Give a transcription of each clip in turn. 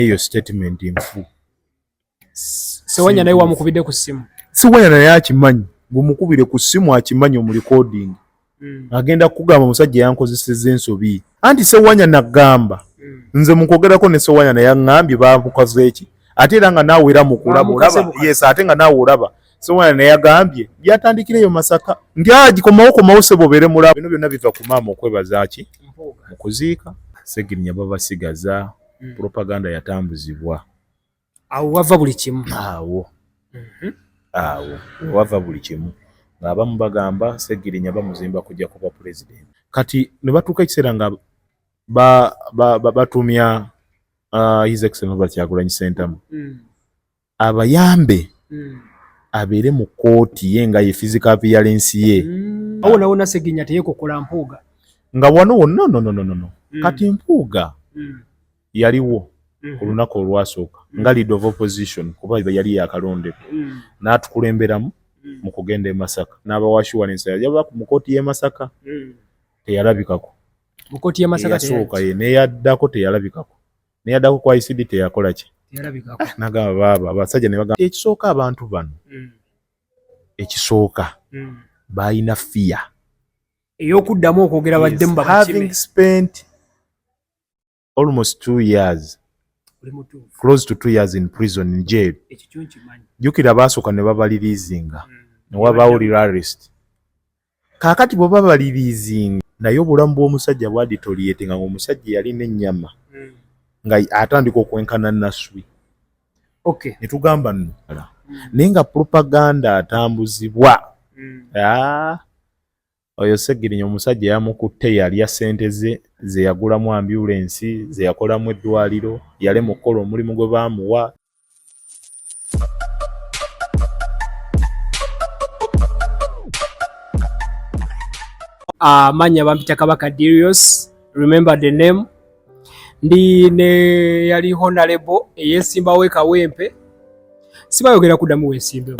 eyo statement nfu sewanya naye wamukubidde ku ssimu sewanya naye akimanyi ngumukubire ku ssimu akimanyi omulikodingi mm. agenda kugamba omusajja yankozeseza ensobi anti sewanya nagamba mm. nze mukwogerako ne sewanya naye aŋambye bamukoze eki ate era nga naawe era mukulaba olaba yes ate nga naawe olaba sewanya naye agambye byatandikira eyo masaka nti agikomawo ah, komawo sebo obeere mulaba bino byonna biva ku maama okwebazaki mukuziika segirinya babasigaza mm. propaganda yatambuzibwa awo wava buli kimu awo mm-hmm. awo wava buli kimu ng'abamu bagamba segirinya bamuzimba kujja kuba president kati ne batuuka ekiseera nga batumya ba, ba, ba uh, his excellence bakyagulanyi sentamu mm. abayambe mm. abeere mu kooti ye nga ye physical appearance ye mm. awo nawo nasegenya teyekokola mpuuga nga wano wonna no, no, no, no, no. Mm. kati mpuuga mm. yaliwo ku mm-hmm. lunaku olwasooka mm. nga lead of opposition kuba yali yakalondebwa mm. n'atukulemberamu mm. mu kugenda e masaka n'abawashiwalensa yajaba mu kooti y'e masaka mm. teyalabikako mu kooti y'e masaka teyasooka ye neyaddako teyalabikako neyaddako ku icd teyakola ki ah, nagamba baaba abasajja nebagamba ekisooka abantu bano mm. ekisooka mm. balina fiya eyokuddamu okwogera baddemu having spent almost two years close to two years in prison in jail jukira baasooka ne babalirizinga mm. newabaawo rarest Kaakati bw'oba baliriizinga naye obulamu bw'omusajja bwaditorietinga ng'omusajja eyalina ennyama hmm. nga atandika okwenkana naswi ne tugamba nno hmm. naye nga propaganda atambuzibwa hmm. ah, oyo segirinya omusajja yamukutte yalya ssente ze ze yagulamu ambyulensi ze yakolamu eddwaliro yalema okukola omulimu gwe baamuwa amanya ah, uh, bampita kabaka Darius remember the name ndi ne yali honalebo eyesimbawo ekawempe sibayogera kudamu wesimbewo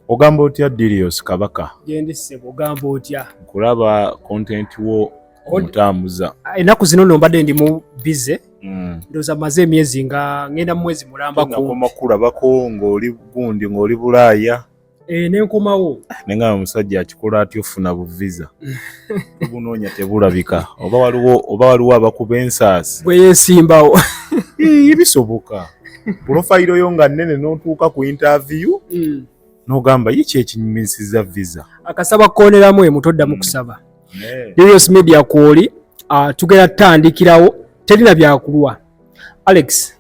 ogamba otya dirios kabaka gendi sebo ogamba otya nkulaba content wo omutambuza ah, enaku zino no mbadde ndi mu bize mm. ndoza maze emyezi nga ngenda mu mwezi mulamba koma kulabako ng'oli gundi ng'oli bulaaya e, nenkomawo nengamba omusajja akikola atya ofuna buviza tubunoonya tebulabika oba waliwo oba waliwo abakuba ensaasi bwe yesimbawo bisoboka pulofayiro yo nga nnene n'otuuka ku intaviyu mm. n'ogamba ye kyekinyumisiza visa akasaba kukooneramu emu toddamu mm. kusaba darius media kwoli ah, tugenda tutandikirawo terina byakulwa alex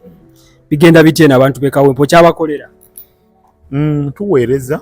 bigenda bitya eno abantu bekawempo kyabakolera mm, tuweereza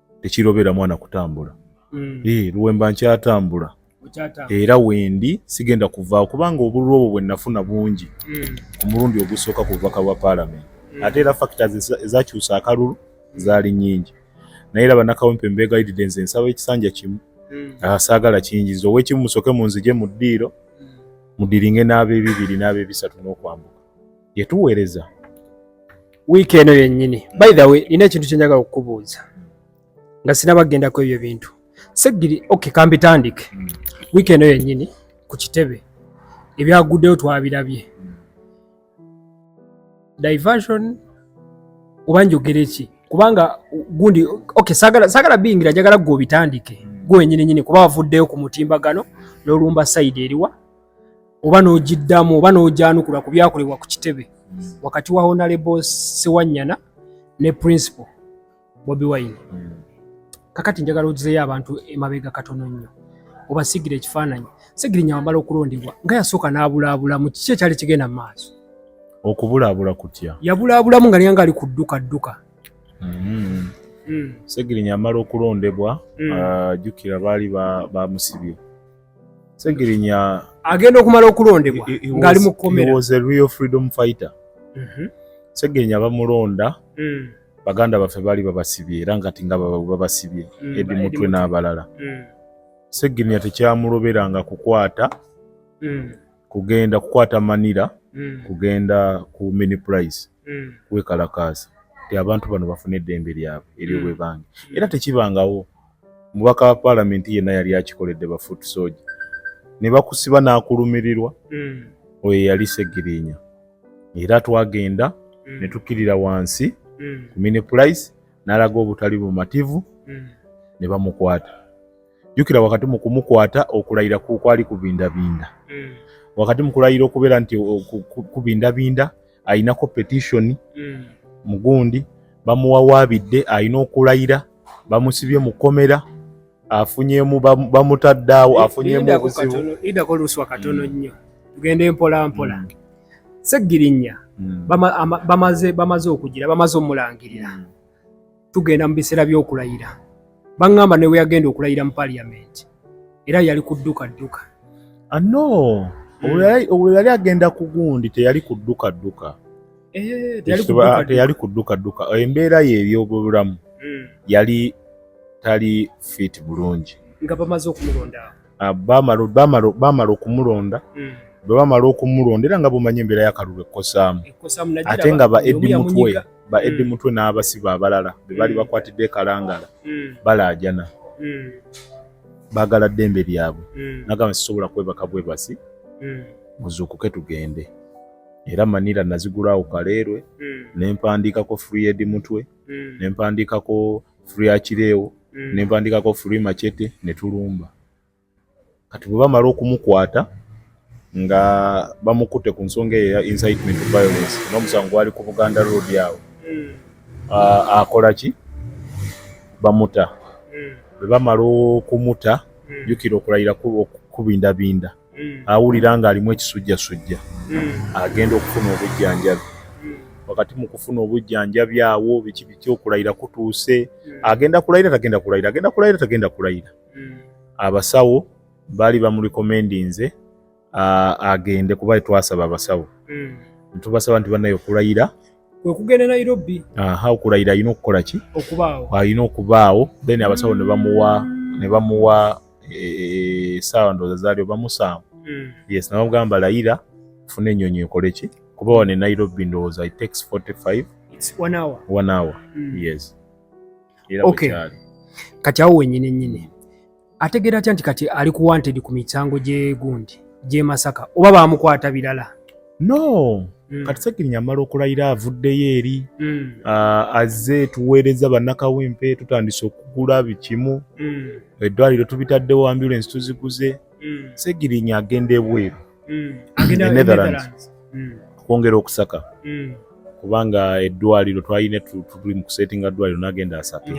tekirobera mwana kutambula mm. e, eh, luwemba nkyatambula era wendi sigenda kuvaawo kubanga obululu obwo bwenafuna bungi mm. ku mulundi ogusooka ku bubaka bwa paalamenti mm. ate era fakita ezakyusa akalulu mm. zaali nyingi naye era banakawempe mbeegayiride nze nsaba ekisanja kimu mm. asaagala ah, kingiza owekimu musoke munzije mu ddiiro mm. mudiringe n'abebibiri n'abebisatu n'okwambuka gye tuweereza wiiki eno yennyini by the way nina ekintu kyenjagala okukubuuza nga sinabagendako ebyo bintu segiri ok kambitandike mm. wiiki eno yennyini ku kitebe ebyaguddeyo twabirabye diversion oba njogere ki kubanga gundi ok sagala biyingira njagala gwe obitandike mm. gwe wenyini nyini kuba wavuddeyo ku mutimbagano n'olumba sayidi eriwa oba n'ogiddamu oba n'ogyanukula ku byakolebwa ku kitebe wakati wa honalebo sewanyana ne principal bobi wine kakati njagala ogizeyo abantu emabega katono nnyo obasigira ekifaananyi segirinya wamala okulondebwa nga yasooka n'abulaabulamu kiki ekyali kigenda mu maaso okubulaabula kutya yabulaabulamu nga niyanga ali ku dduka dduka mm-hmm. mm. segirinya amala okulondebwa mm. ajjukira baali bamusibye Segirinya agenda okumala okulondebwa ngali mu komera. He was a real freedom fighter. Mm -hmm. Segirinya bamulonda. Mm. Baganda baffe bali babasibye era ngati nga babasibye mm, Edi Mutwe n'abalala. Mm. Segirinya tekyamuloberanga kukwata mm. kugenda kukwata Manila mm. kugenda ku mini price. Mm. mm. wekalakaasa ti abantu bano bafune eddembe lyabwe eryobwebange mm. mm. era tekibangawo mubaka wa paalamenti yenna yali akikoledde bafuutu sooja ne bakusiba n'akulumirirwa mm. oyo yali segirinya era twagenda mm. ne tukkirira wansi mm. ku mini price n'alaga obutali bumativu mm. ne bamukwata jjukira wakati mu kumukwata okulayira kwali kubindabinda mm. wakati mu kulayira okubeera nti kubindabinda alinako petishoni mm. mugundi bamuwawaabidde alina okulayira bamusibye mu kkomera afunyemu bamutadde awo afunyemu obuzibu idako oluswa katono mm. nnyo tugenda empola mpola mm. seggirinnya bamaze okugira bamaze omulangirira tugenda mu biseera by'okulayira baŋŋamba ne bwe yagenda okulayira mu paliyamenti era yali kudduka dduka ano olwo yali agenda ku gundi teyali kudduka dduka eh, teyali kudduka dduka embeera ye ebyobulamu hmm. yali tali fiiti bulungi nga bamaze okumulonda ah, bamala okumulonda hmm. bwe bamala okumulonda era nga bumanyi embeera yakalulu ekkosaamu ate nga ba edi mutwe ba hmm. edi mutwe n'abasiba abalala be baali hmm. bakwatidde ekalangala balaajana baagala ddembe lyabwe nagamba sisobola kwebaka bwebasi muzuukuke tugende era manira nazigulaawo kaleerwe nempandiikako free edi mutwe mm. ne mpandiikako free akireewo mm. ne mpandiikako free machete ne tulumba kati bwe bamala okumukwata nga bamukutte ku nsonga eyo ya incitement violence n'omusango gwali ku buganda road awo mm. akola ki bamuta mm. bwe bamala okumuta mm. jukira okulayira okukubindabinda mm. awulira ng'alimu ekisujjasujja mm. agenda okufuna obujjanjabi mm. wakati mu kufuna obujjanjabi awo biki biki okulayira kutuuse agenda kulayira tagenda kulayira agenda kulayira tagenda kulayira abasawo baali bamulikomendinze agende kuba twasaba abasawo ntubasaba nti banaye okulayira kwekugenda nairobi aha okulayira alina okukola ki okubaawo alina okubaawo then abasawo ne bamuwa ne bamuwa esaawa e, ndowooza zaali oba musanvu hmm. yes nabamugamba layira funa enyonyi ekole ki kuba wano e nairobi ndowooza it takes 45 one hour, one hour. Mm. yes era okay. kati awo wenyini nyini ategeera atya nti kati ali ku wanted ku misango gyegundi gyemasaka oba bamukwata birala no mm. kati segirinya amala okulayira avuddeyo eri mm. uh, azze tuweereza bannakawempe tutandise okugula bikimu mm. eddwaliro tubitaddewo ambulance tuziguze mm. segirinya agenda ebweru mm. netherlands mm. okwongera okusaka mm. kubanga eddwaliro twalina tuli mu kusetinga ddwaliro nagenda asaka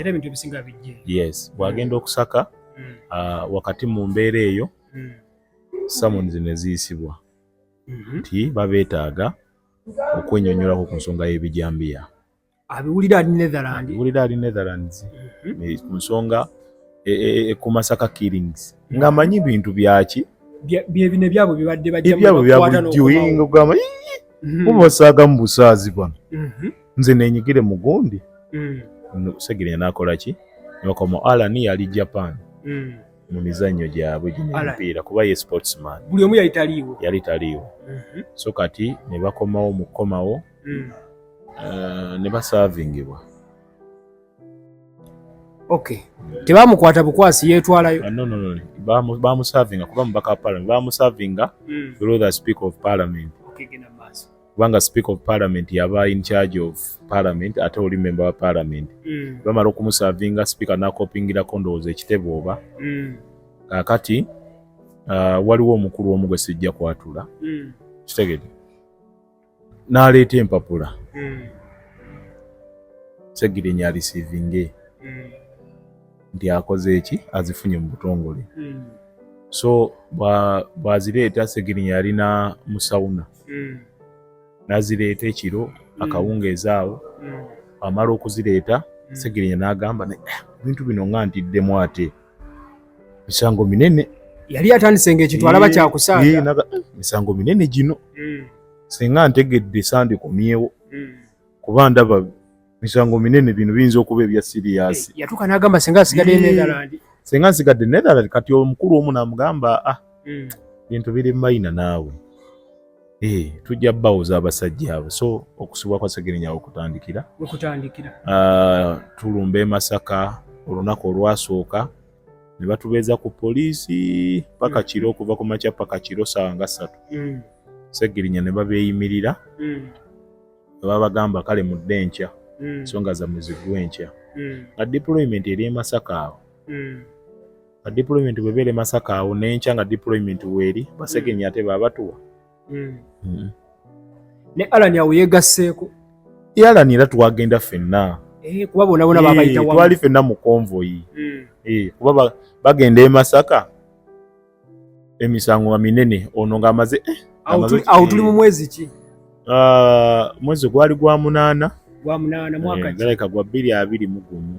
yes bwagenda mm. okusaka mm. uh, wakati mu mbeera eyo mm. samons neziyisibwa mhm. nti mm -hmm. babeetaaga okwenyonyolako ku nsonga y'ebijambiya abiwulira ali Netherland abiwulira ali Netherlands mhm. eh, ku nsonga e, e, e, ku Masaka killings ng'amanyi bintu byaki byebino ebyabwe bibadde bajjaebyabwe byabulidiwinga ogamba mubasaaga mhm. mu busaazi bano mhm. nze nenyigire mu gundi segere nakola ki nebakoma alan yali japan mu mizannyo gyabwe gino emipiira kuba ye sportsman buli omu yali taliiwo yali taliiwo mhm. so kati ne bakomawo mu kukomawo mm. eh, ne basaavingibwa ok tebamukwata bukwasi yeetwalayo ah, nonono bamusaavinga kuba mubaka wa parliament bamusaavinga mm. through the speaker of parliament kubanga speaker of parliament yaba in charge of parliament ate oli member wa parliament mm. bamala okumusavinga speaker nakopingirako ndowooza ekitebe oba mm. kakati uh, waliwo omukulu omu gwe sijja kwatula mm. kitegede naleeta empapula mm. segirinya alisivinge mm. nti akoze eki azifunye mu butongole mm. so bwazireeta segirinya yalina musawuna mm. nazireeta ekiro mm. akawungeezi awo mm. amala okuzireeta mm. segirinya n'agamba eh, ebintu bino nga ntiddemu ate misango minene yali atandise ngaekitwalaba eh, kyakusaanga eh, misango minene gino mm. singa ntegedde sandikomyewo mm. kuba ndaba misango minene bino biyinza okuba ebya siriyasi eh, yatuuka n'agamba senga asigadde netherland senga nsigadde netherland kati omukulu omu namugamba ah hmm. bintu biri mayina naawe eh, tujja bawoza abasajja abo so okusibwa kwa segerinya okutandikira okutandikira ah, tulumba e masaka olunaku olwasooka ne batubeeza ku poliisi paka hmm. kiro okuva ku makya paka kiro saawa nga ssatu hmm. segirinya ne babeeyimirira babagamba kale mudde enkya mm. so nga zamwe ziggwa enkya mm. nga deployment eri emasaka awo mm. nga deployment bwebeera emasaka awo nenkya nga deployment weeri basegenyi ate babatuwa ne alan awo yegasseeko e alan era twagenda fenna eh, kuba bonabona eh, babayitawali fenna mu konvoyi eh, kuba bagenda emasaka emisango nga minene ono ng'amaze eh, awo tuli mu mwezi ki ah, mwezi gwali gwa munaana gwa munaana mwaka eh, galeka gwa bbiri abiri mu gumu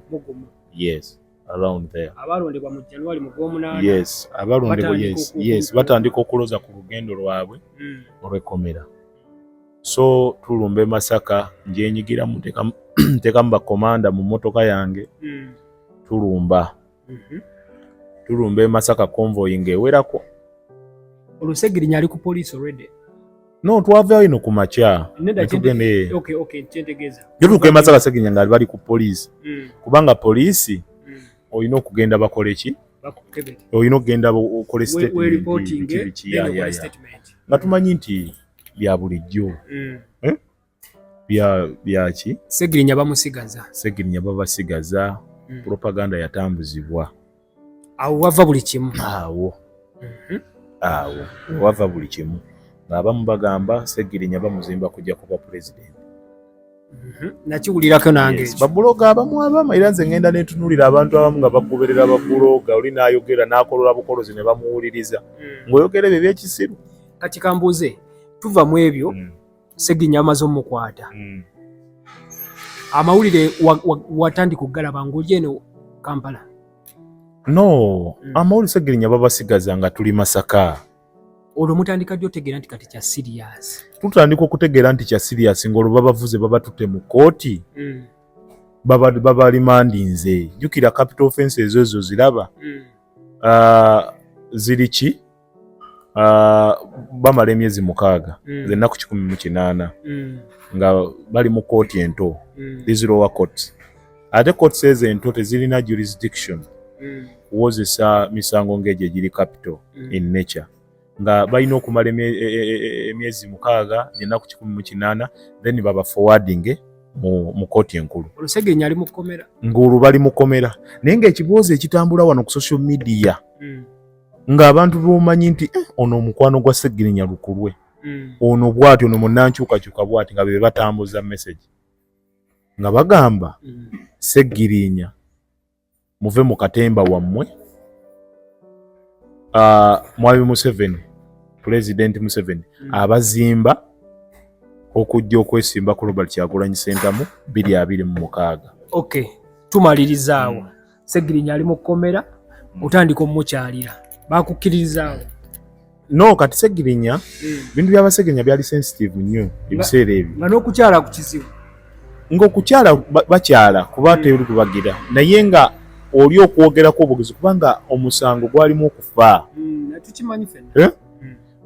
yes around there abalondebwa mu january mu gwomunaana yes abalondebwa yes yes batandika okuloza ku lugendo lwabwe hmm. olw'ekkomera so tulumba e masaka njenyigiramu ntekamu bakomanda mu motoka yange hmm. tulumba mhm. tulumba e Masaka convoy nga ewerako olusegirinya ali ku police already no twavaayo ino ku makya jotuuka e Masaka segirinya nga bali ku police mm. kubanga police mm. olina okugenda bakole ki olina okugenda okole statement nga tumanyi nti bya bulijjo mm. eh? byaki segirinya bamusigaza segirinya babasigaza hmm. propaganda yatambuzibwa awo wava buli kimu awo mhm. awo wava buli kimu ngaabamu bagamba segirinya bamuzimba kujja kuba pulezidenti mhm. nakiwulirako nange babuloga abamu abama era nze ngenda netunulira abantu abamu nga bagoberera babuloga oli nayogera nakolola bukolozi ne bamuwuliriza hmm. ngaoyogera ebyo ebyekisiru kati kambuuze tuva mu ebyo hmm. Seginya amaze omukwata mm. amawulire watandika okugalaba ng'oli eno Kampala? No, mm. amawulire Segirinya babasigaza nga tuli Masaka. Olwo mutandika ddi otegeera nti kati kya siriyasi? Tutandika okutegeera nti kya siriyasi ng'olwo babavuze babatutte mu kkooti mm. babalimandinze. Jjukira capital offense ezo ezo ziraba mm. uh, ziri ki? Ah, bamala emyezi mukaaga mm. ennaku kikumi mu kinaana mm. nga bali mu kooti ento mm. these lower courts ate courts ezo ento tezirina jurisdiction kuwozesa misango ng'egyo egiri capital in nature nga balina okumala e, e, e, emyezi mukaaga ennaku kikumi mu kinaana then baba forwardinge mu kooti enkulu ng'olwo bali mukomera naye ng'ekiboozi ekitambula wano ku social media ng'abantu bomanyi nti eh, ono omukwano gwa segirinya lukulwe mm. ono bwati ono munankyukakyuka bwati nga be batambuza message nga bagamba mm. segirinya muve mu katemba wammwe uh, mwami museveni pulezidenti museveni mm. abazimba okujja okwesimba ku robert kyagulanyi sentamu biri abiri mu mukaaga okay. tumalirizaawo mm. segirinya ali mu kkomera mm. otandika omukyalira bakukkiririzaawo no kati segirinya mm. bintu byabasegirinya byali sensitive nnyo ebiseera ebyo nga n'okukyala ku kizibu ngaokukyala bakyala kuba mm. teri kubagira naye nga oli okwogerako obugezi kubanga omusango gwalimu okufa eh?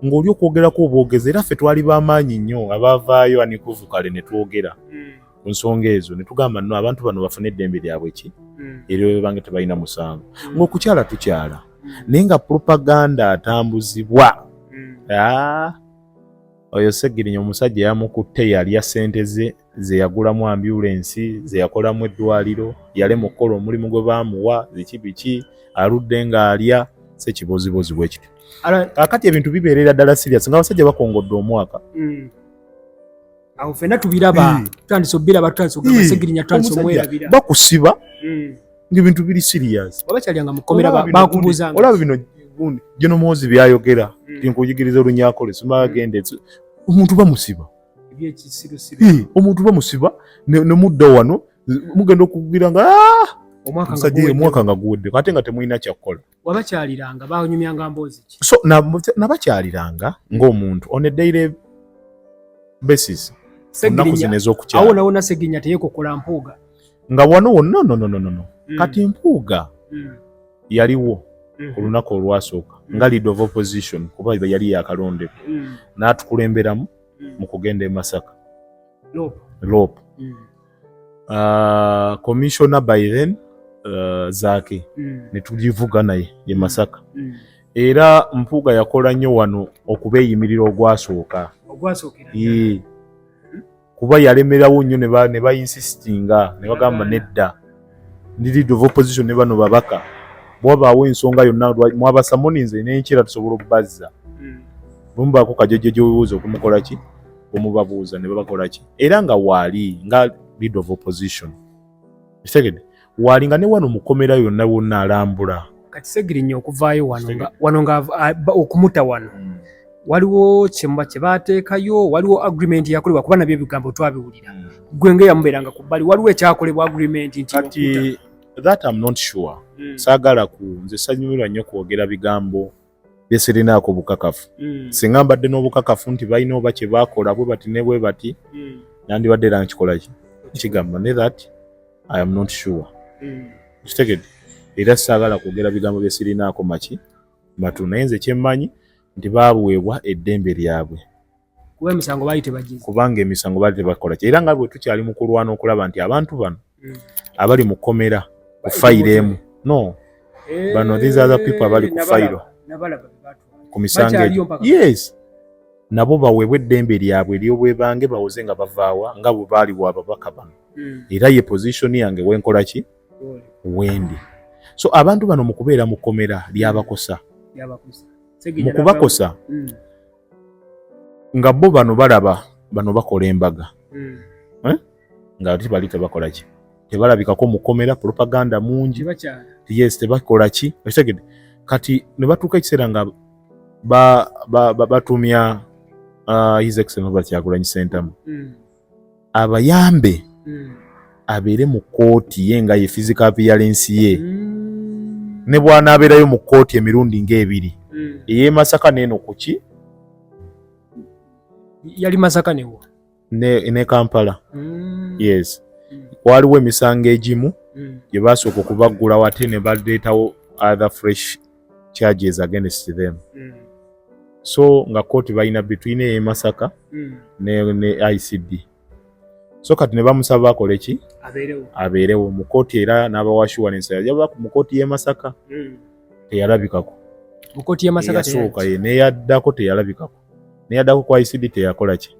ng'oli okwogerako obwogezi era ffe twali bamaanyi nnyo abaavaayo anikuvuka le ne twogera hmm. ku nsonga ezo ne tugamba no abantu bano bafune eddembe lyabwe ki hmm. era bwe bange tebalina musango hmm. ng'okukyala tukyala hmm. naye nga propaganda atambuzibwa ah, oyo segirinya omusajja yamukutte yalya sente ze ze yagulamu ambulensi ze yakolamu eddwaliro yale mu kukola omulimu gwe baamuwa ziki biki aludde ng'alya sekibozibozi bwe kityo kakati ebintu bibeerera ddala sirias nga abasajja bakongodde omwaka awo fena tubiraba tutandise obiraba tutandise ogamba segirinya tutandise omwerabira bakusiba hmm. ng'ebintu biri serious oba kyalyanga mukomera bakubuza olaba bino gundi gino muwozi byayogera hmm. tinkuyigiriza olunyakole simagende hmm. omuntu bamusiba omuntu bamusiba nemudda wano mugenda okugwira nga ah! omwaka nga guwedde ate nga temulina kyakukola wabakyaliranga banyumyanga mboozi ki so nabakyaliranga na hmm. ng'omuntu on a daily basis ennaku zino ez'okukyala awo nawona segirinya teyekokola mpuuga nga wano wonna nonononono hmm. kati mpuuga hmm. yaliwo ku lunaku olwasooka nga lead of opposition kuba yali yakalondebwa n'atukulemberamu mu kugenda e masaka lopu uh, commissioner by then uh, zake mm. netulivuga naye ye masaka mm. mm. era mpuuga yakola nnyo wano okubeeyimirira ogwasooka mm-hmm. kuba yalemerawo nnyo ne bainsisinga ne bagamba nedda ndi lead of opposition ne bano babaka bwabaawo ensonga yonna mwabasamoninze nenkira tusobola okubazza mm. bwemubaako kajojojobuuza okumukola ki omubabuuza ne babakola ki era nga waali nga lead of opposition kitegede waali nga ne wano mukomera yonna wonna alambula kati segirinya okuvaayo wano nga okumuta wano hmm. waliwo kyemuba kyebateekayo waliwo agreement yakolebwa kuba nabyo ebigambo twabiwulira hmm. gwe nga eyamubeeranga ku bbali waliwo ekyakolebwa agreement nti kati that am not sure hmm. saagala ku nze sanyumirwa nnyo kwogera bigambo bye sirinaako bukakafu mm. singa mbadde n'obukakafu nti balina oba kye baakola bwe bati ne bwe bati mm. nandibadde era nkikola ki kigamba ne that i am not sure mm. kitegede era saagala kwogera bigambo bye sirinaako maki matu naye nze kyemmanyi nti baabuweebwa eddembe lyabwe kuba emisango baali tebagize kubanga emisango baali tebakola ki era nga bwe tukyali mu kulwana okulaba nti abantu bano mm. abali mu kkomera ku fayiro emu no eh, bano these other people abali ku fayiro ku misango egyo yes nabo baweebwa eddembe lyabwe eryobwebange bawoze nga bavaawa nga bwe baali wa babaka bano mm. era ye position yange wenkola ki wendi so abantu bano mu kubeera mu kkomera lyabakosa mu kubakosa mm. nga bo bano balaba bano bakola embaga hmm. eh? nga ati bali tebakola ki tebalabikako mukomera propaganda mungi yes tebakola ki okitegede kati ne batuuka ekiseera nga batumya ba, ba, ba uh, his excellence Robert Kyagulanyi Ssentamu mm. abayambe hmm. abeere mu kkooti ye nga ye physical appearance ye hmm. ne bw'anaabeerayo mu kkooti emirundi ng'ebiri hmm. ey'e Masaka n'eno ku ki yali Masaka newo ne Kampala yes waaliwo emisango egimu gye baasooka okubaggulawo ate ne baleetawo other fresh charges against them mm. so nga kooti balina between eye masaka mm. ne, ne icd so kati ne bamusaba akole ki abeerewo mu kooti era n'abawa assurance yajaba mu kooti y'e masaka mm. teyalabikako mu kooti y'e masaka yasooka ye neyaddako teyalabikako neyaddako ku icd teyakola ki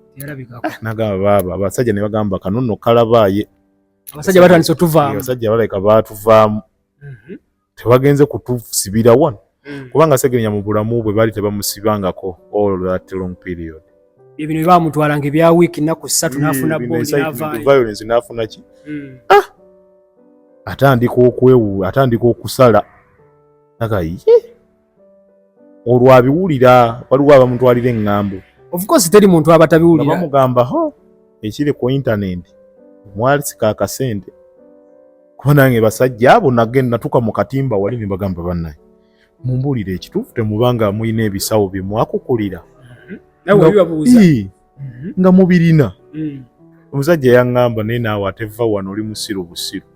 ah, nagamba baaba abasajja ne bagamba kano nno kalabaaye abasajja batandise otuvaamu abasajja balabika baatuvaamu mm -hmm. tebagenze kutusibira wano mm. kubanga segenya mu bulamu bwe baali tebamusibangako all that long period ebino bamutwala nga ebya wiiki nnaku ssatu mm, nafuna violence nafuna ki mm. ah! atandika okwewu atandika okusala aga ye olwo abiwulira waliwo abamutwalira eŋŋambo of course teri muntu aba tabiwulira bamugamba ho ekiri ku internet mwalisika akasente kuba nange basajja abo nage natuka mu katimba wali ne bagamba bannaye mumbuulire ekituufu temubanga mulina ebisawo bye mwakukulira mm-hmm. mhm. nga mubirina mm. omusajja yaŋŋamba naye naawe ate va wano oli musiru busiru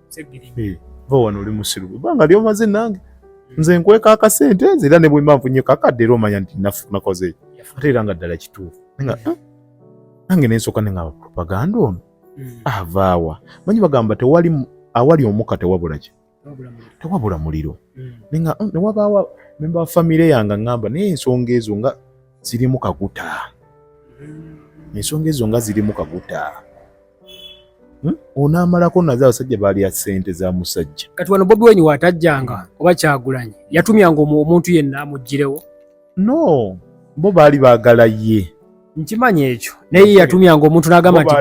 eh, va wano oli musiru ebanga lyomaze nange mm. nze nkweka akasente nze era ne bwemba nfunye kakadde era omanya nti nakoze ate era nga ddala kituufu ah, nange nensooka ne ngaba propaganda ono mm. avaawa manyi bagamba tewali awali omuka tewabulaki tewabula muliro mm. oh, newabaawo memba wa famire yange aŋamba naye ensonga ezo nga zirimu kaguta mm. ensonga ezo nga zirimu kaguta hmm? onaamalako naze abasajja baalya sente za musajja kati wano bobi wenyi watajjanga oba kyagulanyi yatumyanga omuntu yenna amuggirewo no bo baali baagala ye nkimanyi ekyo naye yatumyanga omuntu n'agamba nti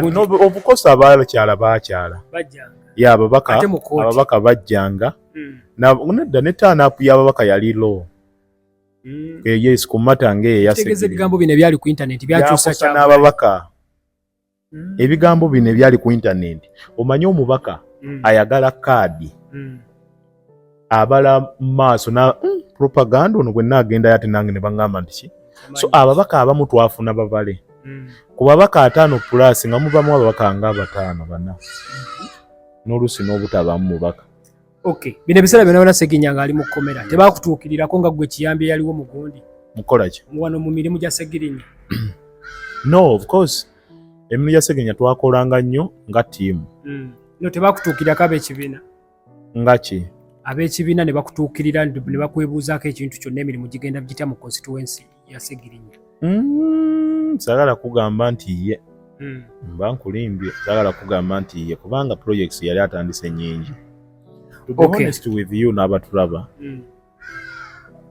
obukosa abakyala bakyala ye ababaka ababaka bajjanga hmm. nedda ne taanapu y'ababaka yali loo hmm. eh, yes ku mata ngaeyo yaseebigambo bino ebyali ku intaneti byakyusa n'ababaka mm. ebigambo bino ebyali ku intaneti omanyi omubaka mm. ayagala kaadi mm. abala maaso na mm. propaganda ono gwenna agendayo ate nange ne baŋŋamba nti ki so ababaka abamu twafuna babale mm. ku babaka ataano pulaasi nga mubamu ababaka nga abataano bana mm-hmm. n'oluusi n'obutabamu mubaka Okay. Bino ebiseera byonna byonna Ssegirinya ng'ali mu kkomera tebakutuukirirako nga ggwe kiyambi eyaliwo mu gundi mukola ki wano mu mirimu gya Ssegirinya no of course emirimu gya Ssegirinya twakolanga nnyo nga ttiimu mm. no tebakutuukirirako ab'ekibiina nga ki ab'ekibiina ne bakutuukirira ne bakwebuuzaako ekintu kyonna emirimu gigenda gitya mu constituency ya Segirinya. Mm, sagala kugamba nti ye mm. mba nkulimbye sagala kugamba nti ye kubanga projects yali atandise nyingi. To be okay. honest with you n'abatulaba mm.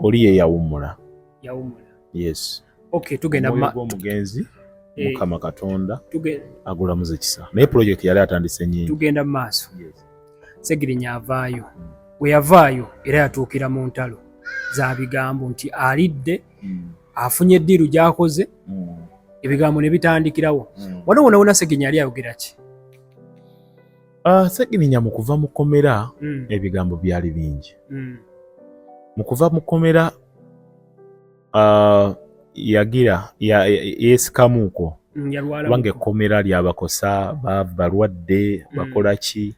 oli ye yawummula. Yawummula. Yes. Okay, tugenda mu omugenzi eh. Mukama Katonda agulamuze kisa naye project yali atandise nyingi. Tugenda mu maaso. Yes. segirinya avaayo we yavaayo era yatuukira mu ntalo za bigambo nti alidde hmm. afunye eddiiru gyakoze hmm. ebigambo ne bitandikirawo hmm. wano wona wona segirinya yali ayogera ki ah, segirinya mu kuva mu kkomera ebigambo byali bingi mu kuva mu kkomera uh, yagira yeesikamuuko ya, ya, kubanga ekkomera lyabakosa balwadde mm. bakola ki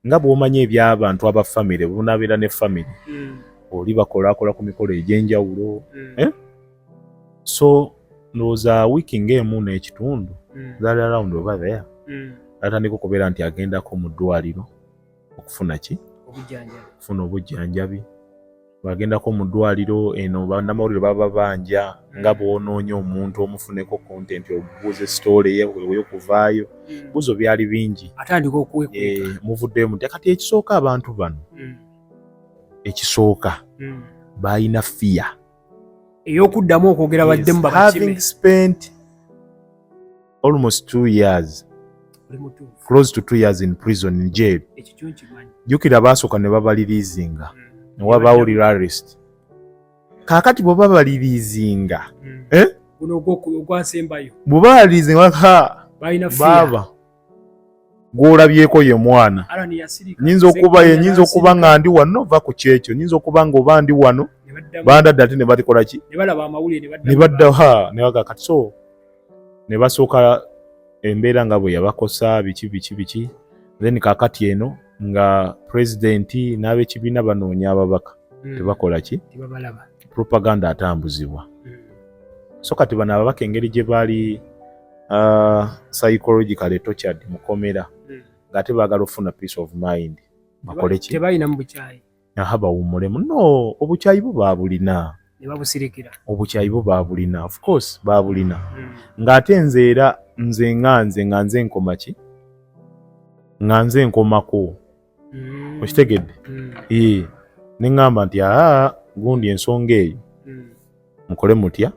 nga bw'omanyi ebyabantu aba famire bunabeera ne famire mm. oli bakolakola ku mikolo egy'enjawulo mm. eh? so ndowooza wiiki ng'emu n'ekitundu mm. that around over there mm. atandika okubeera nti agendako mu ddwaliro okufuna ki okufuna obujjanjabi bwagendako mu ddwaliro eno bannamawulire baba banja nga hmm. bwonoonya omuntu omufuneko kontenti obubuuze sitoole yeweyo kuvaayo hmm. buzo byali bingi atandika okuwekweka eh, muvuddemu nti kati ekisooka abantu bano hmm. ekisooka balina fiya eyokuddamu okwogera baddemu having spent almost two years close to two years in prison in jail jukira baasooka ne babaliriizinga mm. ne wabaawo relarist kaakati bwe babaliriizinga mm. eh? bwe babaliriizinga ha baaba gw'olabyeko ye mwana nyinza okuba ye nyinza okuba nga ndi wano ova ku kyekyo nyinza okuba nga oba ndi wano bandadde ate ne batikola ki ne badda ha ne bagakati so ne basooka embeera nga bwe yabakosa biki biki biki then kakati eno nga pulezidenti n'abekibiina banoonya ababaka hmm. tebakola ki propaganda atambuzibwa hmm. so kati bano ababaka engeri gye baali uh, psychological etochard mukomera hmm. ng'ate baagala okufuna peace of mind bakole ki aha bawummulemu no obukyayi bo baabulina nebabusirikira obukyayi bo baabulina of course baabulina hmm. ng'ate nze era nze nga nze nga nze nkoma ki nga nze nkomako hmm. okitegedde hmm. ee ne ŋŋamba nti aa gundi ensonga eyo mukole mutya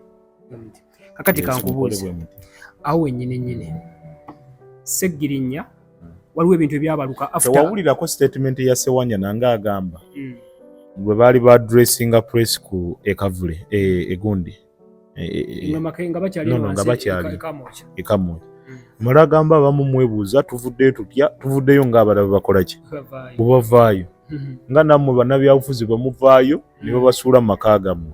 kakati kankubuuza awo wenyini nyini seggirinya hmm. waliwo ebintu ebyabaluka tewawulirako statement ya sewanya nange agamba hmm. bwe baali ba dressinga press ku ekavule e, egundi e, e, nga bakyali ekamoja mala agamba abamu mwebuuza tuvuddeyo tutya tuvuddeyo ng'abalabe bakolaki bwebavaayo nga nammwe bannabyabufuzi bwe muvaayo ne babasuula mu maka gammwe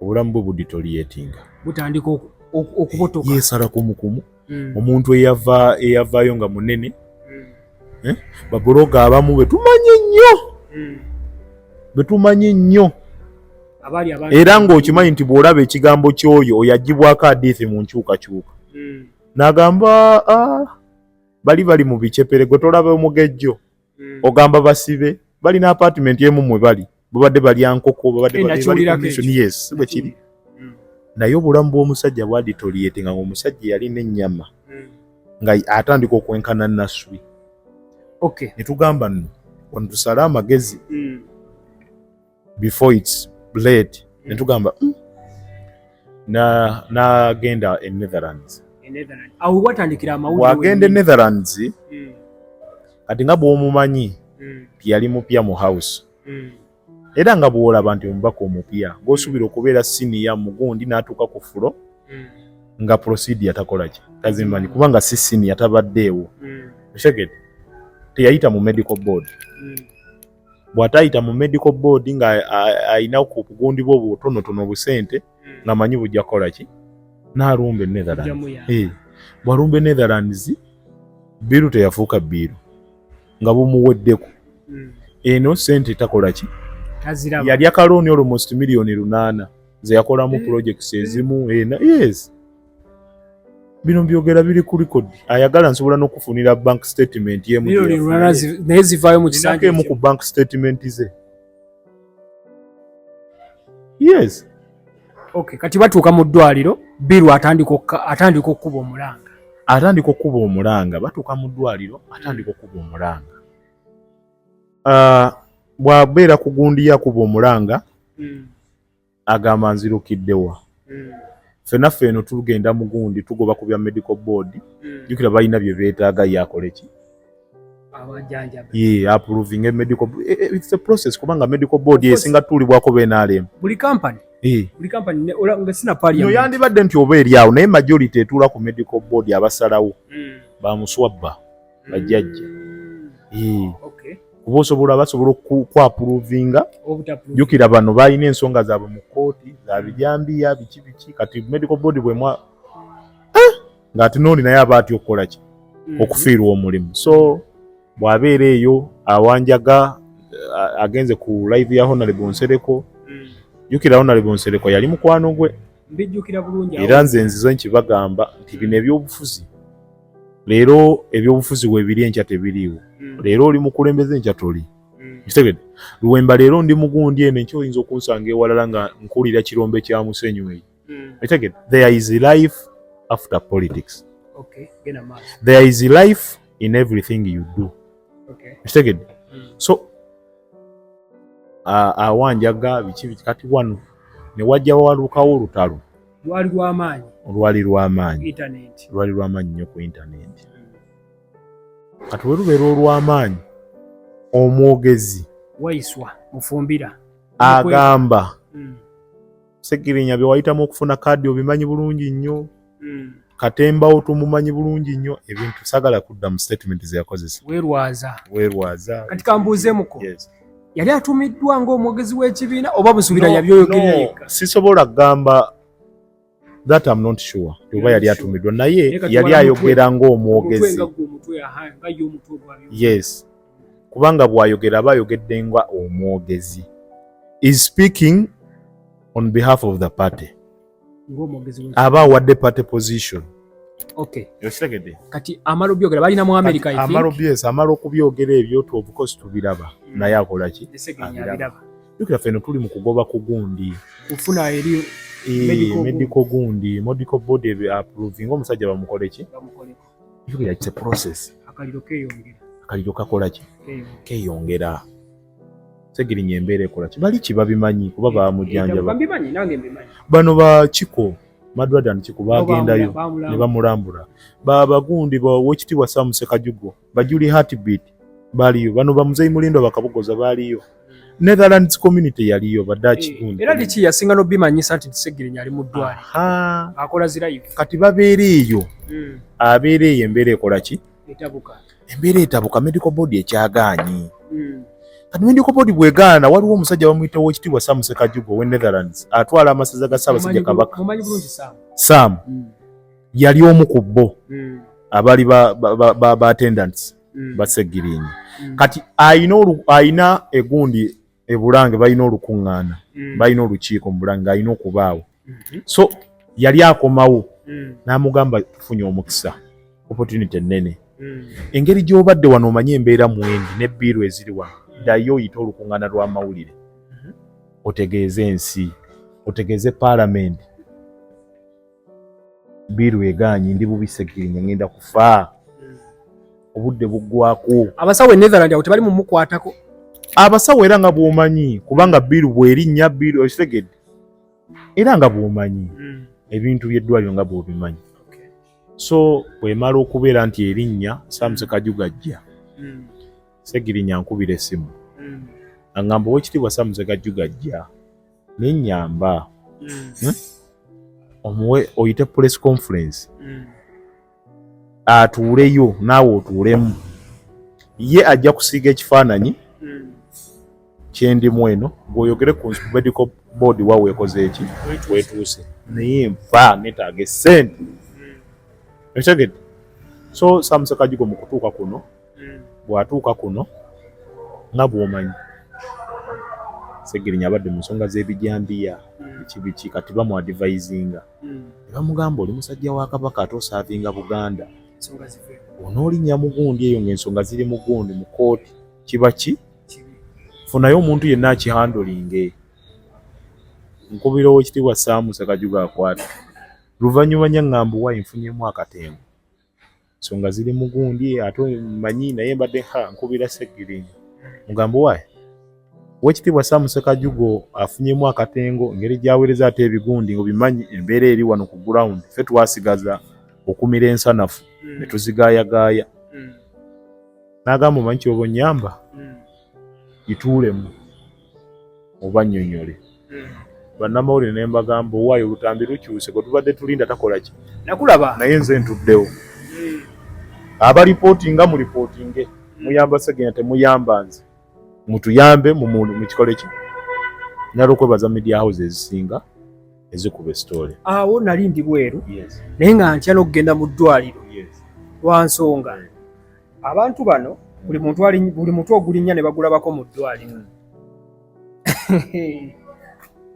obulamu bwe buditoliyetinga butandika okubotoka yesala kumukumu mm. omuntu eyava eyavaayo nga munene mm. eh? babuloga abamu betumanyi nnyo mm. betumanyi nnyo era ng'okimanyi nti bw'olaba ekigambo ky'oyo oyo agibwako adiithi mu nkyukakyuka mm. n'agamba ah, bali bali mu bicepere gwe tolaba omugejjo mm. ogamba basibe balina apartment emu mwe bali babadde balya nkoko babadde eh, yes bwe kiri mm. naye obulamu bw'omusajja bwaditoliyete nga omusajja yalina ennyama mm. nga atandika okwenkana naswi okay. netugamba nno wano tusale amagezi mm. before its late mm. netugamba mm. nagenda na e Netherlands awo watandikira amawulire wagenda e Netherlands mm. kati nga bwomumanyi mm. yali mupya mu house mm. era nga bwolaba nti omubaka omupya gwosuubira mm. okubeera siniya mugundi natuuka ku fulo mm. nga procedure takolaki tazimanyi kubanga si siniya tabaddeewo mm. osegede teyayita mu medical board mm. bw'atayita mu medical board nga alina ku kugundibwa obutonotono obusente hmm. nga manyi bujja kukola ki n'alumba enetherlands eh, bw'alumba enetherlands biiru teyafuuka biiru nga bumuweddeko hmm. eno sente takola ki yalya kalooni olwo most miliyoni lunaana ze yakolamu hmm. projects ezimu ena eh, yes bino byogera biri ku record ayagala nsobola n'okufunira bank statement naye zivaayo mu kisanja emu ku bank statement ze yes okay kati batuuka mu ddwaliro biru atandika atandika okukuba omulanga atandika okukuba omulanga batuuka mu ddwaliro atandika okukuba omulanga ah, bwabeera ku gundi yakuba omulanga hmm. agamba nzirukidde wa mm. fena feno tugenda mugundi tugoba ku bya medical board mm. jukira balina bye beetaaga ye akole ki ye approving a medical eh, eh, it's a process kubanga medical board esinga tuulibwako benalemu buli company eh. no yandibadde nti oba eri awo naye majority etuula ku medical board abasalawo mm. bamuswabba bajjajja mm. kuba osobola basobola okukwapuruvinga jukira bano balina ensonga zaabwe mu kooti zabijambiya biki biki kati medical body bwemwa eh! ngaate nooli naye aba atya okukola ki mm. okufiirwa omulimu so bwabeera eyo awanjaga eh, agenze ku live ya honalebo nsereko mm. jukira honalebo nsereko yali mukwano gwe era nze nzizo nkibagamba nti bino ebyobufuzi leero ebyobufuzi webiri enkya tebiriiwo mm. leero oli mukulembeze enkya toli mm. kitegede luwemba leero ndi mugundi eno enkya oyinza okunsanga ewalala nga nkuwulira kirombe kya musenyu eyo mm. kitegede there is life after politics okay. there is life in everything you do kitegede okay. mm. so awanjaga biki kati wano newajja walukawo olutalo lwali lw'amaanyi lwali lw'amaanyi intaneti lwali lw'amaanyi nnyo ku intaneti hmm. kati we lubeera olw'amaanyi omwogezi waiswa mufumbira agamba hmm. segirinya bye wayitamu okufuna kaadi obimanyi bulungi nnyo hmm. katembawo tumumanyi bulungi nnyo ebintu sagala kudda mu statement zeyakozesa werwaza werwaza kati kambuuzemuko yes. yali atumiddwa ngaomwogezi w'ekibiina oba busubira no, yabyoyogerera no, sisobola kugamba that am not sure oba yali atumiddwa naye yali ayogera ngaomwogezi yes kubanga bwayogera aba ayogedde nga omwogezi is speaking on behalf of the party aba awadde party position okay yokitegedde kati amala obyogera balina mu america i think amala obyesa amala okubyogera ebyo to of course tubiraba mm. naye akola ki abiraba yokira feno tuli mu kugoba ku gundi kufuna eri eh, medical gundi medical body approving omusajja bamukole ki Yogera it's a process. Akaliro keyongera. Akaliro kakola ki? Keyongera. Segirinya embeera ekola ki? Bali ki babimanyi kuba bamujjanjaba. Babimanyi nange mbimanyi. Bano ba kiko Madwada ni kiko bagendayo ne bamulambula. Ba bagundi ba wokitibwa Sam Sekajugo. Bajuli heartbeat baliyo. Bano ba Mzee Mulindo bakabugoza baliyo. Netherlands community yaliyo badaki eh, gundi. Era lichi yasinga no bima nyisa nti segere nyali mudwali. Ha. Akola zira yifu. Kati babere eyo. Mm. Abere eyo embere ekola ki? Etabuka. Embere etabuka medical board ekyaganyi. Mm. Kati medical board bwegana waliwo omusajja bamuyita wo kitibwa Sam Sekajugo we Netherlands atwala amasaza ga Saba sija kabaka. Mumanyi bulungi Sam. Sam. Mm. Yali omu kubbo. Mm. Abali ba ba, ba, ba, ba attendants. mm. basegirinyi mm. kati ayina ayina egundi ebulange balina olukuŋŋaana mm. balina olukiiko mu bulange alina okubaawo mm -hmm. so yali akomawo mm. n'amugamba tufunye omukisa opportunity ennene mm. engeri gy'obadde wano omanyi embeera mwendi ne biiru eziri wano mm. ddayo oyite olukuŋŋaana lw'amawulire mm -hmm. otegeeze ensi otegeeze paalamenti biiru egaanyi ndi bubi segirinya ngenda kufa obudde buggwako abasawo enetherland awo tebali mumukwatako abasawo era nga bwomanyi kubanga biiru bwerinnya biiru okitegedde era nga bwomanyi hmm. ebintu byeddwaliro nga bwobimanyi so bwemala okubeera nti erinnya samuse kajugajja hmm. segirinya nkubira esimu hmm. aŋamba owekitiibwa samuse kajugajja naye nyamba mm. hmm? omuwe oyite press conference mm. atuuleyo naawe otuulemu ye ajja kusiiga ekifaananyi mm. kyendimu eno gweoyogere ku medical board wa weekoze eki wetuuse naye nfa netaaga esente ekitegedde so samusekajigo mu kutuuka kuno mm. bw'atuuka kuno nga bw'omanyi segirinya abadde mu nsonga z'ebijambiya mm. ekibiki kati bamuadivayizinga mm. ne bamugamba oli musajja wa kabaka ate osaavinga buganda onoolinnya mugundi eyo ng'ensonga ziri mugundi mu kooti kiba ki funayo omuntu yenna akihandolinge nkubira owekitiibwa saamu sekajuga akwata luvannyuma nyaŋŋamba wa enfunyemu akatengo nsonga ziri mu gundi ate manyi naye mbadde ha nkubira seggiringi mugambo waye wekitiibwa samusekajugo afunyemu akatengo ngeri gyawereza ate ebigundi obimanyi embeera eri wano ku ground fe twasigaza okumira ensanafu hmm. netuzigayagaaya hmm. nagamba omanyi kyoba onyamba hmm. ituulemu mubanyonyole hmm. bannamawulire ne mbagamba owaayo olutambi lukyuse gwe tubadde tulinda takola ki nakulaba naye nze ntuddewo hmm. abalipootinga mulipootinge hmm. muyamba segenya temuyamba nze mutuyambe mukikole ki nalwokwebaza media house ezisinga ezikuba esitole awo nali ndi bweru naye nga ntya n'okugenda mu ddwaliro lwa nsonga abantu bano buli muntu ali buli mutu ogulinnya ne bagulabako mu ddwaliro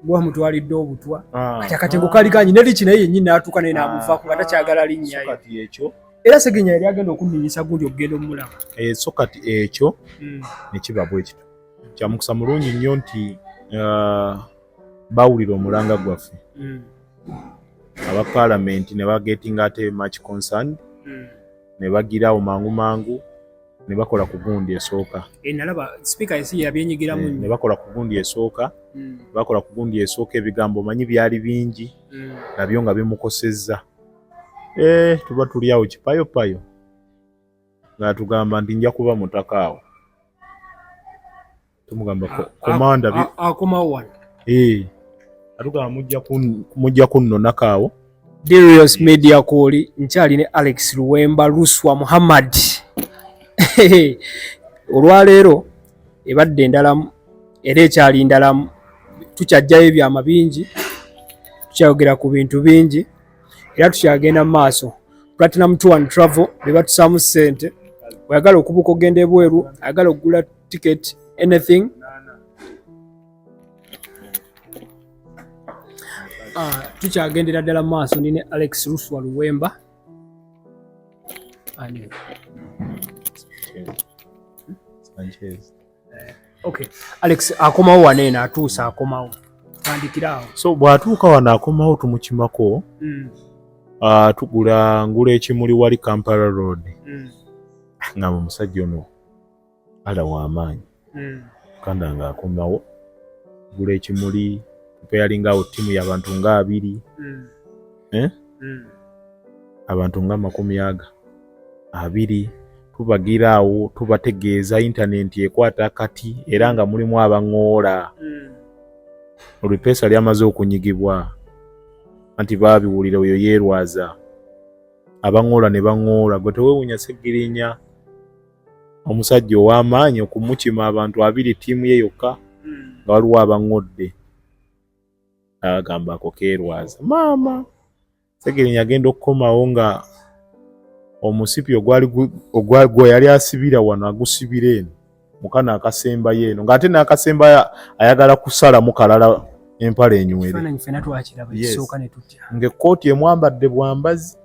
gwa mutwalidde obutwa ah. kati akatengo kali kanyi neri kinaye yennyini n'atuuka naye n'amuvaako nga takyagala linnyayo era segenya yali agenda okunninyisa gundi okugenda omulaba eh, so kati ekyo hmm. nekiba bwekito kyamukisa mulungi nnyo nti uh, bawulira omulanga gwaffe hmm. aba palamenti ne bagetinga ate much concerned hmm. ne bagira awo mangu mangu ne bakola ku gundi esooka eh, eh, ne bakola ku gundi esooka hmm. bakola ku gundi esooka ebigambo omanyi byali bingi hmm. nabyo nga bimukosezza eh, tuba tuli awo kipayopayo ng'atugamba nti nja kuba mutaka awo tumugamba komanda akomawo wano eh, atugamba mujja kunnonako awo Darius Media Koli nkyali ne Alex Luwemba Luswa Muhammad olwaleero ebadde endalamu era ekyali ndalamu tukyajjayo ebyama bingi tukyayogera ku bintu bingi era tukyagenda mu maaso platinum tour and travel bebatusaamu ssente oyagala okubuuka ogenda ebweru ayagala okugula ticket anything ah, tukyagendera ddala maaso ndi ne alex ruswa luwemba ani Sanchez. Okay. Alex akomawo wane na atuusa akomawo. Tandikirawo. So bwatuuka wano akomawo tumukimako. Mm. Uh, tugula ngula ekimuli wali Kampala Road. Mm. Nga musajja ono ala wamaanyi hmm. mukanda nga akomawo gula ekimuli preparing awo tiimu yabantu nga abiri hmm. eh? hmm. abantu nga amakumi aga abiri tubagira awo tubategeeza intanenti ekwata kati era nga mulimu abaŋoola olupeesa lyamaze okunyigibwa anti baabiwulira oyo yeerwaza abaŋoola ne baŋoola gwe tewewunya segirinya omusajja ow'amaanyi okumukima abantu abiri ttiimu ye yokka hmm. nga waliwo abaŋŋodde agamba ako keerwaza maama segerinya agenda okukomawo nga omusipi ogwagwe yali asibira wano agusibira eno mukano akasembayo eno ng'ate n'akasemba ayagala kusalamu kalala empala enywere ng'ekkooti emwambadde bwambazi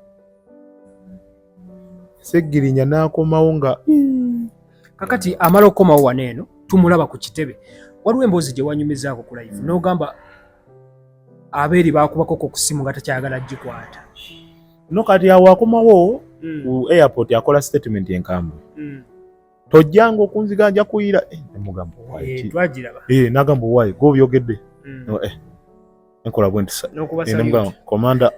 Ssegirinya n'akomawo nga kakati amala okukomawo wano eno tumulaba ku kitebe waliwo emboozi gye wanyumizaako ku live n'ogamba abeeri baakubako ku kusimu nga takyagala gikwata no kati awo akomawo hmm. ku airport akola statement enkambwe hmm. tojjanga okunziga nja kuyira eh, mugamba eh, nagamba owaye eh, gobyogedde mm. enkola bwentisnmugamba komanda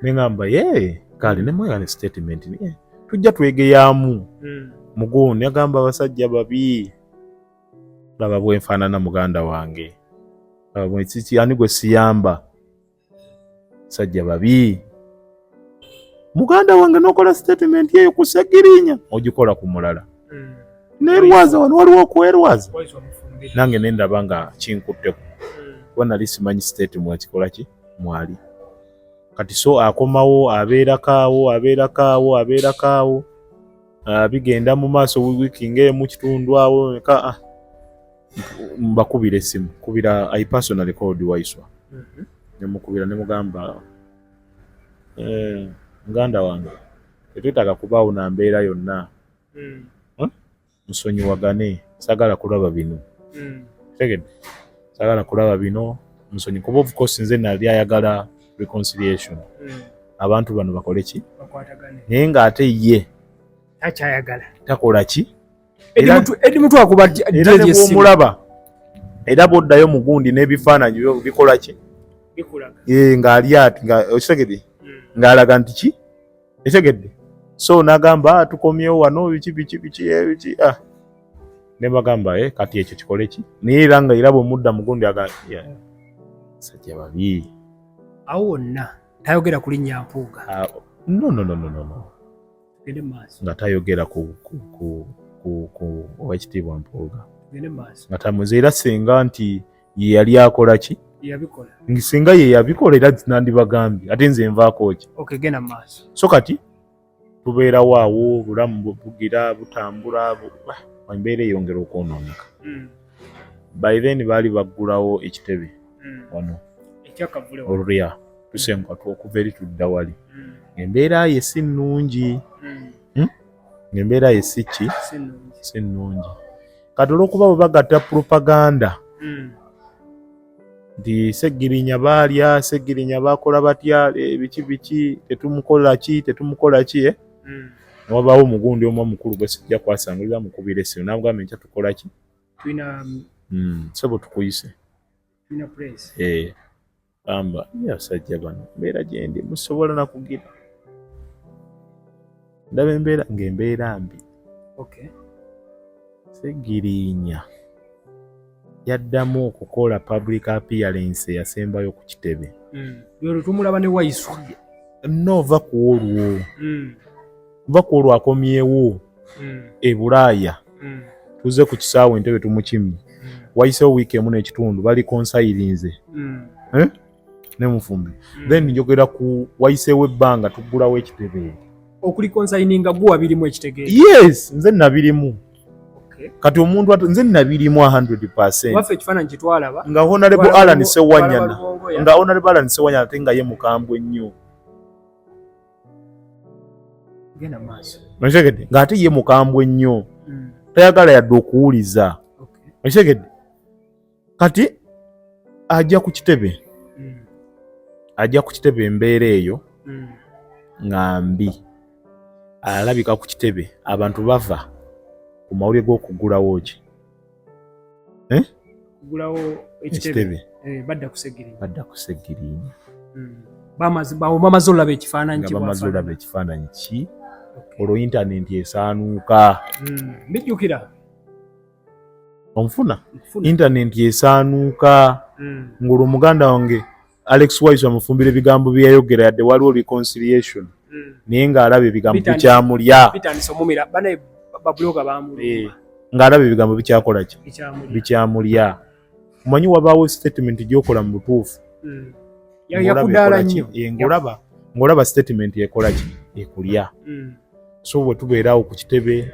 nengamba ye kale nemwegane statement niye tujja twegeyamu mm. mugoni agamba abasajja babi laba bwenfaanana muganda wange laba bwekiki ani gwe siyamba sajja babi muganda wange nokola statement eyo ku segirinya ogikola ku mulala hmm. nerwaza wano waliwo okwerwaza nange nendaba nga kinkutteko hmm. kuba nali simanyi state mwakikola ki mwali kati so akomawo abeerakaawo abeerakaawo abeerakaawo ah, bigenda mu maaso wiiki ngaemu kitundu awo ka ah. mbakubira esimu kubira i personally called waiswa mhm. nemukubira nemugamba eh, muganda wange tetwetaaga kubaawo na mbeera yonna mm. musonyiwagane sagala kulaba bino mm. tegede sagala kulaba bino musonyi kuba of course nze nali ayagala reconciliation mm. abantu bano bakole ki naye ng'ate ye takyayagala takola ki omulaba era bwoddayo mugundi n'ebifaananyi bikola ki eh, ng'ali ati okitegedde hmm. ng'alaga nti ki etegedde so nagamba ah, tukomyewo wano biki biki biki eh, biki ah. nebagamba eh, kati ekyo kikole ki naye era nga era bwemudda mugundi agasajja babi awo wonna tayogera kulinnya mpuuga ah, no no no no no nga tayogera ku owekitiibwa mpuuga nga tamuze era singa nti ye yali akola ki singa ye yabikola era nandibagambye ate nze nvaako ki so kati tubeerawo awo obulamu bugira butambula embeera eyongera okwonooneka hmm. by then baali baggulawo ekitebe hmm. wano olulya tusenguka okuva eri tudda wali hmm. embeera ye si nnungi hmm. ngaembeera ye si ki si nnungi kati olwokuba bwe bagatta propaganda nti segirinya baalya segirinya baakola batya eh, biki biki tetumukola ki tetumukola ki eh? mm. wabaawo omugundi omu omukulu gwesijja kwasangulira mukubira esimu nagamba enkya tukola ki tulina mm, sebo tukuyise tulina puresi eh, amba yasajja bano mbeera gyendi musobola nakugira ndaba embeera ng'embeera mbi okay. segiriinya yaddamu okukola public appearance eyasembayo ku kitebe hmm. tumulaba ne waiswa no va ku olwo hmm. va ku olwo akomyewo hmm. e bulaaya tuze ku kisaawe entebe tumukimye wayisewo wiiki emu n'ekitundu bali konsayirinze eh? ne mufumbi mm. then njogera ku wayiseewo ebbanga tuggulawo ekitebe okuli consigninga guwa birimu ekitegeeza yes nze nabirimu kati omuntu atu nze nabirimu 100 nga honarable alan sewanyana nga honarable alan sewanyana ate nga ye mukambwe ennyo okitegedde nga ate ye mukambwe ennyo hmm. tayagala yadde okuwuliza okitegedde kati ajja ku kitebe mm. ajja ku kitebe embeera eyo mm. nga mbi alabika ku kitebe abantu bava ku mawulire g'okugulawo ki eh? kugulawo ekitebe eh, badda kusegirinya badda kusegirinya mm. bamaze olaba ekifaananyi nga bamaze olaba ekifaananyi ki olwo intanenti esaanuuka mbijjukira omufuna intanenti esaanuuka mm. ng'olwo muganda wange alex wise amufumbira ebigambo byeyayogera yadde waliwo reconciliation mm. naye ng'alaba ebigambo bikyamulya eh, ng'alaba ebigambo bikyakola ki bikyamulya omanyi wabaawo statement gyokola mu butuufu hmm. ngolaba ng'olaba statement ekola ki ekulya mm. so bwe tubeerawo ku kitebe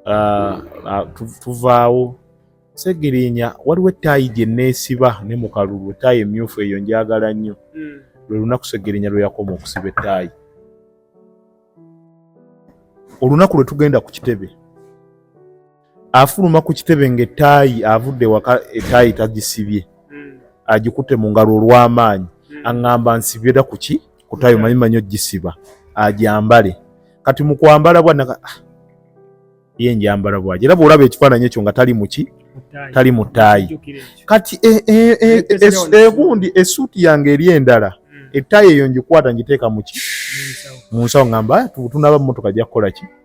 uh, uh, tuvaawo segirinya waliwo ettaayi gye neesiba ne mu kalulu ettaayi emyufu eyo njagala nnyo mm. lwe lunaku segirinya lwe yakoma okusiba ettaayi olunaku lwe tugenda ku kitebe afuluma ku kitebe nga etaayi avudde waka etaayi tagisibye hmm. agikute mu ngalo olw'amaanyi hmm. aŋŋamba nsibira ku ki ku taayi omanyi manyi ogisiba agyambale kati mu kwambala bwana ah, ye njambala bwaje era bw'olaba ekifaananyi ekyo nga tali mu ki tali mu taayi kati e, e, e, egundi esuuti yange eri endala hmm. etaayi eyo ngikwata ngiteeka mu ki mu nsawo ŋŋamba ah, tunaba mu motoka ajja kukola ki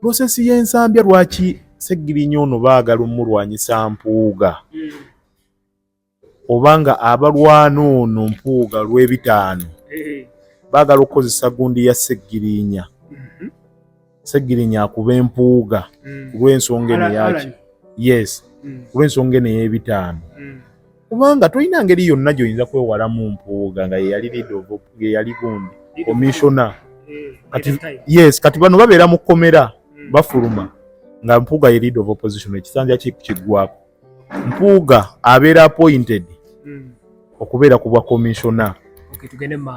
Prosesi y'ensambya lwaki Ssegirinya ono baagala omulwanyisa Mpuuga hmm. obanga abalwana ono Mpuuga lw'ebitaano eh. baagala okukozesa gundi ya Ssegirinya hmm. Ssegirinya akuba Empuuga hmm. ku lw'ensonga eno yaki yes ku lw'ensonga eno ey'ebitaano kubanga tolina ngeri yonna gyoyinza kwewala mu mpuuga nga yeyali lidovo yeyali gundi komishona eh, yes kati bano babeera mu kkomera hmm. bafuluma nga mpuuga ye lead of opposition ekisanja kigwako mpuuga abeera appointed hmm. okubeera ku bwa komishona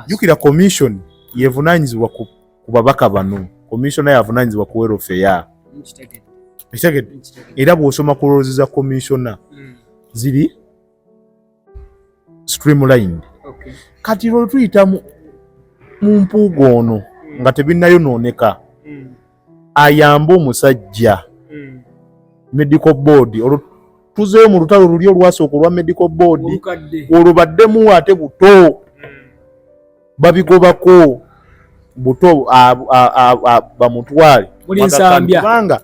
jukira commission yevunanyizibwa ku ku babaka bano komisona yavunanyizibwa ku welfare ekitegedde era bw'osoma ku loozi za komisona hmm. ziri streamlined kati lwe tuyita mu mpuuga ono hmm. nga tebinnayonooneka hmm. ayambe omusajja medical board olwo tuzeeyo mu lutalo luli olwasooka olwa medical board olwo baddemu ate buto babigobako buto bamutwale kubanga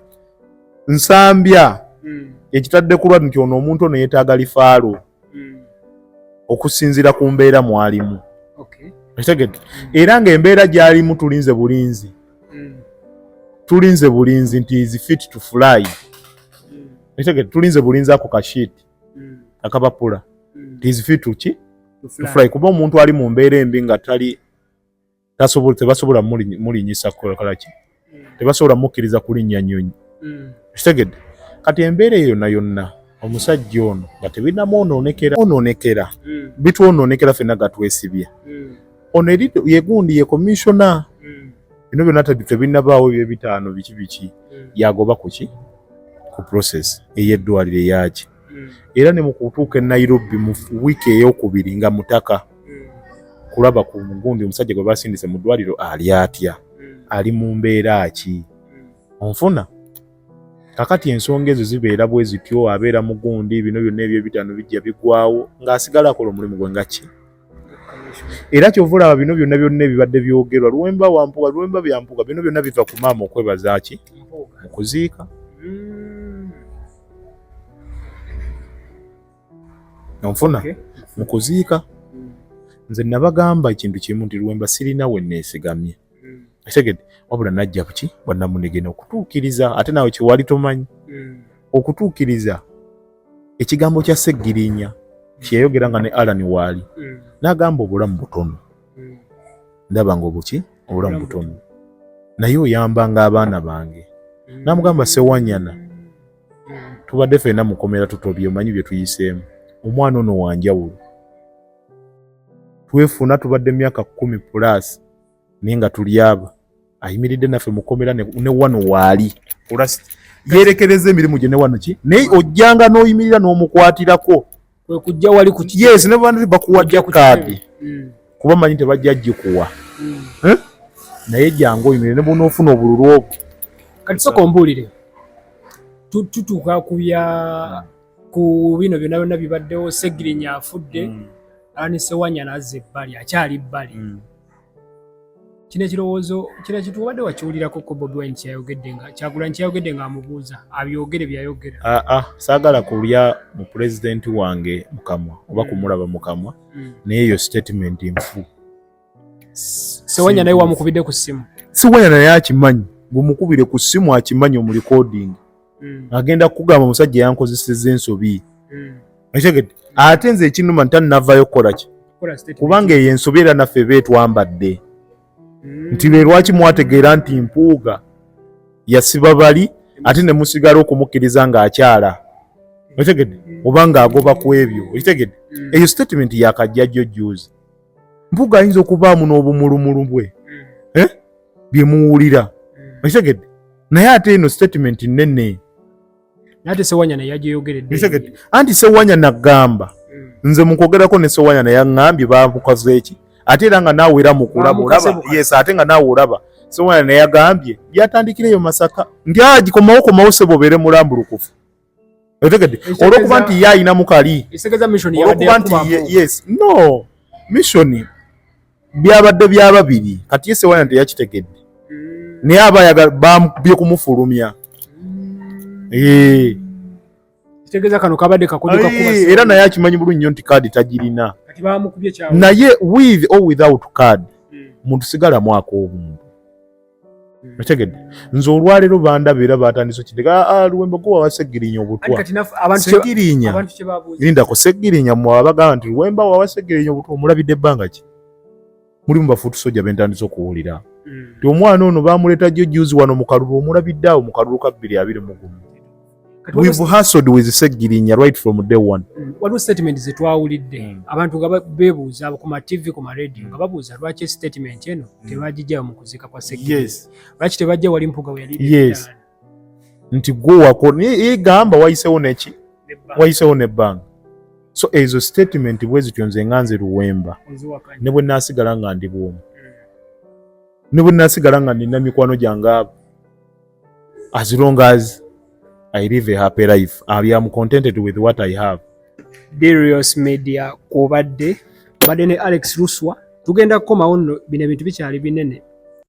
nsambya hmm. ekitadde kulwa nti ono omuntu ono yetaaga lifaalo hmm. okusinziira ku mbeera mwalimu okitegedde hmm. era ng'embeera gyalimu tulinze bulinzi tulinze bulinzi nti is fit to fly okitegedde tulinze bulinzi ako kashiiti mm. akabapula mm. it is fit to ki to fly kuba omuntu ali mu mbeera embi nga tali tasobola tebasobola mulinyisa kola ki mm. tebasobola mukkiriza kulinnya nyonyi mm. kitegedde kati embeera eyo yonna yonna omusajja ono nga tebinamu onoonekera onoonekera mm. bitwonoonekera fenna gatwesibye mm. ono eri yegundi ye komishona mm. bino byonna tebinabaawo ebyo ebitaano biki biki mm. yagoba kuki ku process ey'eddwaliro eyaki hmm. era ne mu kutuuka e nairobi mu wiiki eyokubiri nga mutaka hmm. kulaba ku mugundi omusajja gwe basindise mu ddwaliro ali atya hmm. ali mu mbeera ki onfuna kakati ensonga ezo zibeera bwe zityo abeera mugundi bino byonna ebyebitaano bijja bigwawo ng'asigala akola omulimu gwe nga ki era kyova olaba bino byonna byonna ebibadde byogerwa luwemba wampuga luwemba byampuga bino byonna biva ku maama okwebazaki mu kuziika onfuna hmm. mu kuziika hmm. nze nabagamba ekintu kimu nti luwemba sirina we neesigamye etegede wabula najja kuki bwanamunigena okutuukiriza ate nawe kyewali tomanyi hmm. okutuukiriza ekigambo kya seggirinya kyeyayogera nga ne alani waali hmm. nagamba obulamu butono hmm. ndaba nga obuki obulamu butono naye oyambanga abaana bange namugamba sewanyana tubadde fena mukomera tutobye omanyi byetuyiseemu omwana ono wanjawulo twefuna tubadde myaka kumi pulaasi naye nga tuli abo ayimiridde naffe mukomera ne wano waali yerekereza emirimu gye ne wano ki naye ojjanga n'oyimirira n'omukwatirako kwekujja wali ku yes ne bantu bakuwajja kaadi hmm. kuba manyi tebajja gikuwa hmm. eh? naye jangu oyimirire ne bwonoofuna obululu obwo kati soka ombuulire tutuuka ku bya ku bino byonna byonna bibaddewo segirinya afudde hmm. anisewanyana azza ebbali akyali bbali kino ekirowoozo kira kitu obadde wakiwulirako ko bobi wine kyeyayogedde nga kyagulanyi kyeyayogedde nga amubuuza abyogere byeyayogera aa ah, ah, saagala kulya mu pulezidenti wange mukamwa oba mm. kumulaba mukamwa mm. naye eyo statement nfu sewanya naye wamukubidde ku ssimu sewanya naye akimanyi gumukubire ku ssimu akimanyi omulikodingi mm. agenda kugamba omusajja yankozeseza ensobi mm. ekitegedde ate nze ekinuma nti annavayo kukola ki kubanga eyo ensobi era naffe eba etwambadde mm. nti lwe lwaki mwategeera nti mpuuga yasiba bali ate ne musigala okumukkiriza ng'akyala ekitegedde oba ng'agoba ku ebyo ekitegedde eyo statement yakajjajjo juzi mpuga ayinza okubaamu n'obumulumulu bwe hmm. eh? bye muwulira hmm. okitegedde naye ate eno statement nnene ate sewanyana yajeyogeredde anti sewanyana gamba hmm. nze mukwogerako ne sewanyana yaŋambye bamukoze eki ate era nga naawe era mukulaba yes ate nga naawe olaba sewanyana yagambye byatandikira eyo masaka ndyagikomawo komawo sebo obeere mulambulukufu otegedde olwokuba nti ye ayina mukali olwokuba nti yes no missioni byabadde bya babiri kati yese wana teyakitegedde mm. naye aba ayagala bambye kumufulumya mm. eh. kitegeeza kano kabadde kakuduka kuba era naye akimanyi bulungi nnyo nti kaadi tagirina naye with or without card mm. muntu sigala mwaka obuntu otegedde nze olwaleero bandaba era batandise okindeka ah, ah, luwembo gwe wawa segirinya obutwasegirinya lindako segirinya mwawa bagamba nti luwemba wawa segirinya obutwa omulabidde ebbanga ki mulimu bafuutu soja bentandise okuwulira mm. ti omwana ono bamuleeta jjo juzi wano mukalulu omulabidde awo mukalulu kabbiri abiri mugumu we've hustled with Segirinya right from day one. Mm. Waliwo statement ze twawulidde mm. abantu nga bebuuza ku ma TV ku ma radio mm. nga babuuza lwaki statement eno tebagijja mu kuzika kwa Segirinya. Yes. Lwaki tebajja wali mpuga we yali. Yes. Nti gwo wako ni gamba wayisewo neki wayisewo ne bank. So ezo statement bwezi kyonze nganze luwemba. Ne bwe nasigala nga ndi bwomu. Ne bwe nasigala nga nina mikwano gyange abo. as long as i live a happy life i am contented with what i have darius media kubadde badde ne alex ruswa tugenda kukomawo nno bino ebintu bikyali binene